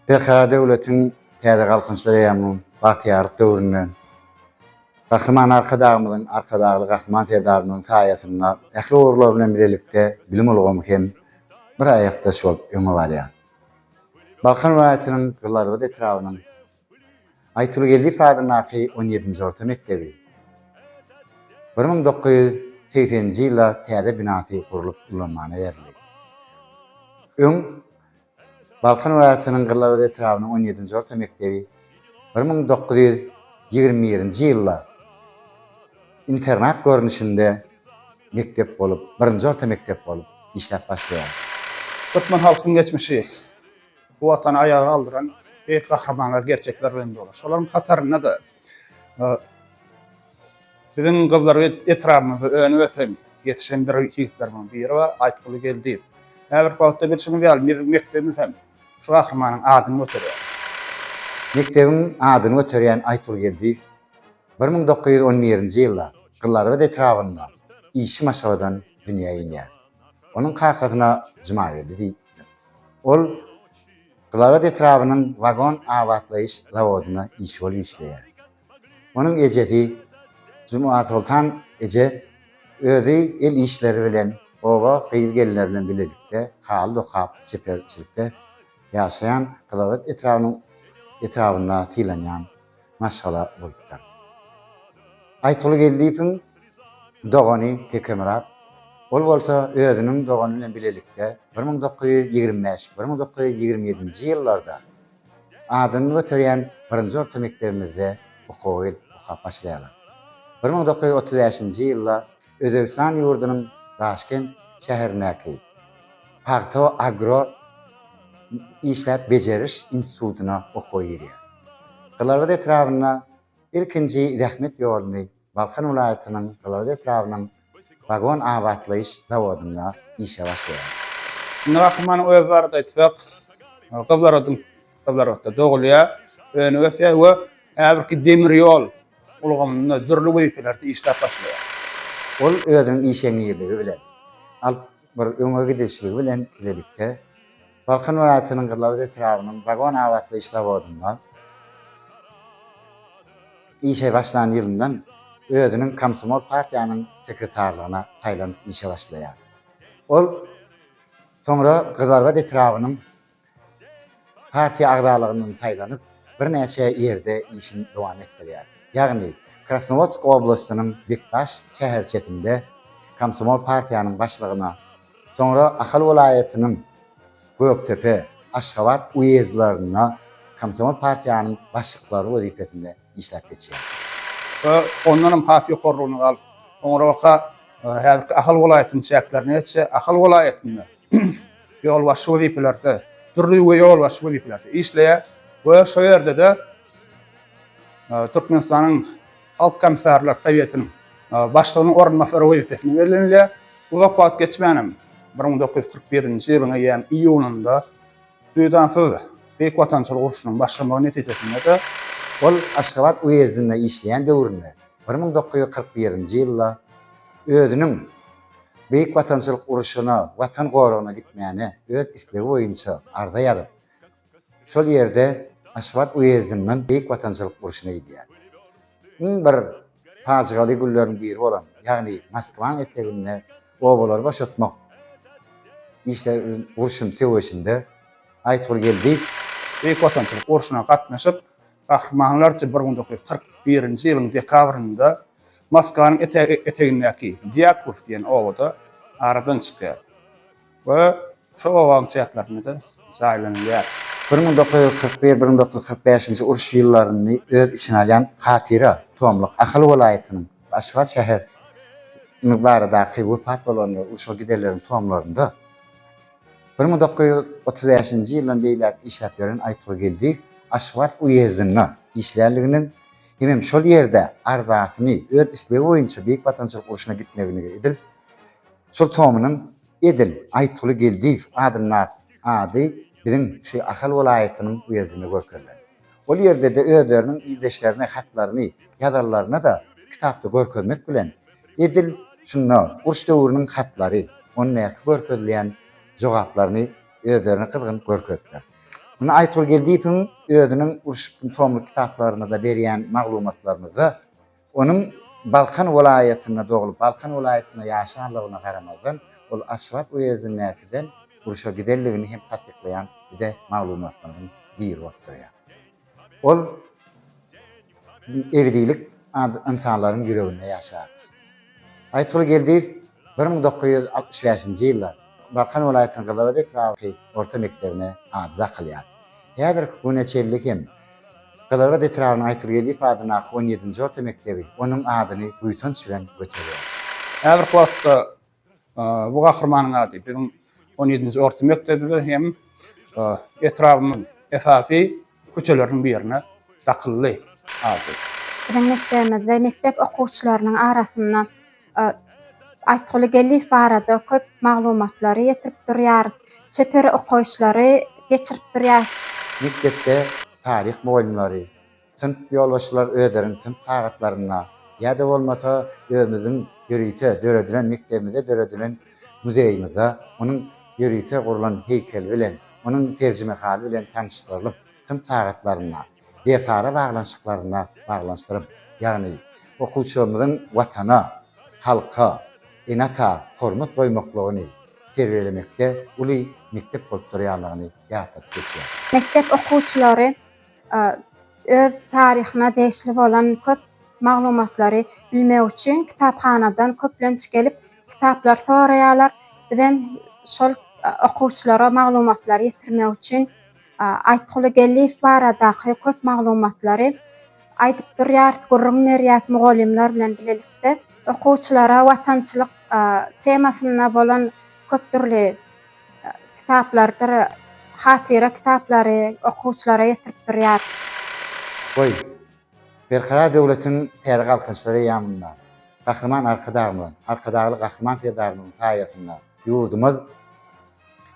Berkarar döwletiň täze Galkynyşly eýýamynyň bagtyýarlyk döwründe Gahryman Arkadagymyzyň, Arkadagly Gahryman Serdarymyzyň saýasynda ähli ugurlar bilen bilelikde bilim ulgamy hem bir aýakdaş bolup öňe barýar. Balkan welaýatynyň Gyzlarbat etrabynyň Aýtuly Geldiýew adyndaky on ýedinji orta mekdebi bir müň dokuz ýüz segseninji ýylda täze binasy gurlup ulanmana berildi. Öň, Balkan welaýatynyň Gyzlarbat etrabynyň on ýedinji orta mekdebi bir müň dokuz ýüz ýigrimi birinji ýylda internat görnüşinde mekdep bolup, birinji orta mekdep bolup işläp başlaýar. Türkmen halkynyň geçmişi bu Watany aýaga galdyran beýik gahrymanlar, gerçekler bilen doly. Şolaryň hatarynda-da biziň Gyzlarbat etrabymyzda önüp-ösen, ýetişen bir ýigitlerimiziň biri bar, Aýtguly Geldiýew. Häzirki wagtda bilşiňiz ýaly, biziň mekdebimiz hem şu gahrymanyň adyny göterýär. Mekdebiň adyny göterýän Aýtguly Geldiýew Bir müň dokuz ýüz on birinji ýylda Gylyarbat etrabynda işçi maşgaladan dünýä inýär. Onuň kakasyna Jumageldi diýipdir. Ol Gylyarbat etrabynyň wagon abatlaýyş zawodyna işçi bolup işleýär. Onuň ejesi Jumasoltan eje özi el işleri bilen oba gyz-gelinleri bilen bilelikde haly dokap, çeperçilikde ýaşaýan Gylyarbat etrabynyň etrabynda sylanýan maşgala bolupdyr. Aýtguly Geldiýewiň dogany Tekemyrat, ol bolsa özüniň dogany bilen bilelikde bir müň dokuz ýüz ýigrimi bäş, bir müň dokuz ýüz ýigrimi ýedinji ýyllarda adyny göterýän birinji orta mekdebimizde okuwa gelip okap başlaýarlar. Bir müň dokuz ýüz otuz bäşinji ýylda Özbegistan ýurdunyň Daşkent şäherindäki Pagta agro işläp bejeriş institutyna okuwa girýär. Gylagyz etrabynda ilkinji zähmet ýoluny Balkan welaýatynyň Gylagyz etrabynyň wagon abatlaýyş zawodynda işe başlaýar. Indi Gahryman öz barada aýtsak, Gyzlar Kyzlarbatda dogulýar, önüp ösýär we häzirki demir ýol ulgamynda dürli wezipelerde işläp başlaýar. Ol özüniň işeňňirligi bilen, alyp bir öňe gidişligi bilen bilelikde Balkan welaýatynyň Gyzlarbat etrabynyň wagon abatlaýyş zawodynda işe başlan ýylyndan özüniň komsomol partiýanyň sekretarlygyna saýlanyp işe başlaýar. Ol soňra Gyzlarbat etrabynyň Partiýa agzalygyndan saýlanyp, birnäçe ýerde işini dowam etdirýär. Ýagny, Krasnowodsk oblastynyň Bekdaş şäherçesinde komsomol partiýanyň başlygyna, soňra Ahal welaýatynyň Gökdepe, Aşgabat uýezdlerinde komsomol partiýanyň başlyklary wezipesinde işläp geçýär. Ondan hem has ýokarlygyna galyp, soňrabaka häzirki Ahal welaýatynyň çäklerine ýetse, Ahal welaýatynda ýolbaşçy wezipelerde, dürli uly ýolbaşçy wezipelerde işleýär we şo ýerde-de Türkmenistanyň Halk Komissarlar Sowetiniň başlygynyň orunbasary wezipesine bellenilýär. Uzak wagt geçmänem, bir müň dokuz ýüz kyrk birinji ýylyň eýýäm iýunynda duýdansyz Beýik Watançylyk urşunyň başlamagy netijesinde-de ol Aşgabat uýezdinde işleýän döwründe bir müň dokuz ýüz kyrk birinji ýylda özüniň Beýik Watançylyk urşuna, Watan goragyna gitmäne öz islegi boýunça arza ýazyp, şol ýerde Aşgabat uýezdinden Beýik Watançylyk urşuna gidýär. Iň bir pajygaly günleriň biri bolan, ýagny Moskwaň eteginde obalary boşatmak işleri urşun söweşinde Aýtgul Geldiýew, Beýik Watançylyk urşuna gatnaşyp, gahrymanlarça bir günde kyrk birinji ýylyň dekabrynda Moskanyň etegindäki Dýaklow diýen obada aradan çykýar we şo obanyň çäklerinde-de jaýlanylýar. Bir müň dokuz ýüz kyrk bir, bir müň dokuz ýüz kyrk bäşinji uruş ýyllaryny öz içine alýan Hatyra tomluk Ahal welaýatynyň we Aşgabat şäher iniň baradaky wepat bolanlar we urşa gidenleriň tomlarynda bir müň dokuz ýüz otuz bäşinji ýyldan beýläk işläp ýören Aýtgur Geldiýew Aşgabat uýezdinde işlänliginiň Hemem şol ýerde arzasyny öz islegi boýunça Beýik Watançylyk urşuna gitmeginigi edil şol tomynyň edil Aýytguly Geldiýew adyndak ady biziň şu Ahal welaýatynyň uýezdinde görkezilen. Ol ýerde-de özleriniň ildeşlerine hatlaryny ýazanlaryna-da kitapda görkezmek bilen, edil şunda uruş döwrüniň hatlary, ondäki görkezilýän jogaplaryny özlerini gyzgyn görkezdiler. Muny Aýtgul Geldiýewiň özüniň urşukdyn tomly kitaplarynda-da berýän maglumatlarymyzda onuň Balkan welaýatynda doglup, Balkan welaýatynda ýaşanlygyna garamazdan, ol Aşgabat uýezdindäkiden urşa gidenligini hem tassyklaýan bize maglumatlarymyzyň biri bolup durýar. Ol ebedilik ynsanlaryň ýüreginde ýaşar. Aýtguly Geldiýew bir müň dokuz ýüz altmyş bäşinji ýylda Balkan welaýatynyň Gyzylabad etraby orta mekdebine ady dakylýar. Häzirki güne çenli hem Gyzylabad etrabynyň Aýtguly Geldiýew adyndaky on ýedinji orta mekdebi onuň adyny buýsanç bilen göterýär. Häzirki wagtda Bu gahrymanyň ady biziň on ýedinji orta mekdebimize hem etrabymyzyň esasy köçeleriniň birine dakyldy ady. Biziň mekdebimizde mekdep okuwçylarynyň arasynda Aýtguly Geldiýew barada köp maglumatlary ýetirip durýarys, çeper okaýyşlary geçirip durýarys. Mekdepde taryh mugallymlary, Synp ýolbaşçylary özleriniň synp sagatlarynda ýa-da bolmasa özümiziň ýörite döredilen mekdebimizde döredilen muzeýimizde onuň ýörite gurlan heýkeli bilen, onuň terjimehaly bilen tanyşdyrylyp, synp sagatlarynda, dersara baglanyşyklarynda baglanyşdyryp, ýagny okuwçylarymyzyň Watana, halka, ene-ata hormat goýmaklygyny terbiýelemekde uly mekdep bolup durýanlygyny ýatladyp geçýäris. Mekdep okuwçylary Öz taryhyna degişli bolan köp maglumatlary bilmek üçin kitaphanadan köplenç gelip kitaplar soraýarlar. Bizem şol okuwçylara maglumatlary ýetirmek üçin Aýtguly Geldiýew baradaky köp maglumatlary aýdyp durýarys, gürrüň berýäris mugallymlar bilen bilelikde. Okuwçylara watançylyk temasynda bolan köp dürli kitaplardyr hatyra kitaplary okuwçylara ýetirip durýar. Goý, Berkarar döwletiň täze galkynyşlary eýýamynda Gahryman Arkadagymyzyň, Arkadagly Gahryman Serdarymyzyň saýasynda ýurdumyz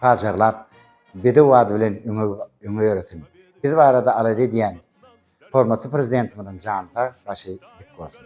pajarlap, bedew ady bilen öňe ýöresin! Biz barada alada edýän hormatly Prezidentimiziň jany sag, başy dik bolsun!